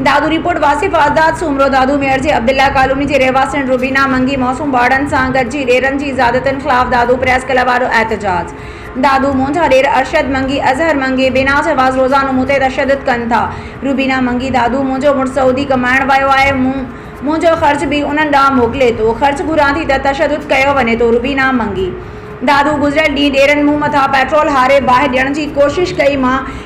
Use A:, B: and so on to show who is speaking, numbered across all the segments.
A: Dadu report, Wasif Azad Soomro Dadu Mir جي Abdullah colony جي رهواسين روبينا منگي معصوم ٻارڙن سان گڏجي ڏيرن جي زيادتين خلاف دادو پريس ڪلب آڏو احتجاج دادو منهنجا ڏير ارشد منگي اظهر منگي بيناز عباس روزانو مون تي تشدد ڪن ٿا روبينا منگي دادو منهنجو مڙس سعودي ڪمائڻ ويو آهي مون منهنجو خرچ به انهن ڏانهن موڪلي ٿو خرچ گهران ٿي ته تشدد ڪيو وڃي ٿو روبينا منگي دادو گذريل ڏينهن ڏيرن مون مٿان پيٽرول هاري باهه ڏيڻ جي ڪوشش ڪئي مان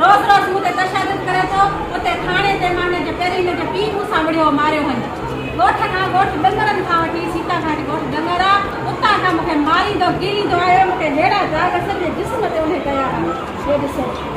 B: روز روز مون تي تشدد ڪري ٿو، اتي ٿاڻي تي مان هن جي پهرين هن جي پيء مون سان وڙهيو، ماريو هن ڳوٺ کان ڳوٺ ڏنگرن کان وٺي سيتا گهاٽ ڳوٺ ڏنگر آ، اتان کان مون کي ماريندو ڪيريندو آيو، مون کي ههڙا داغ سڄي جسم تي اڻي ڪيا آهن، هي ڏسو.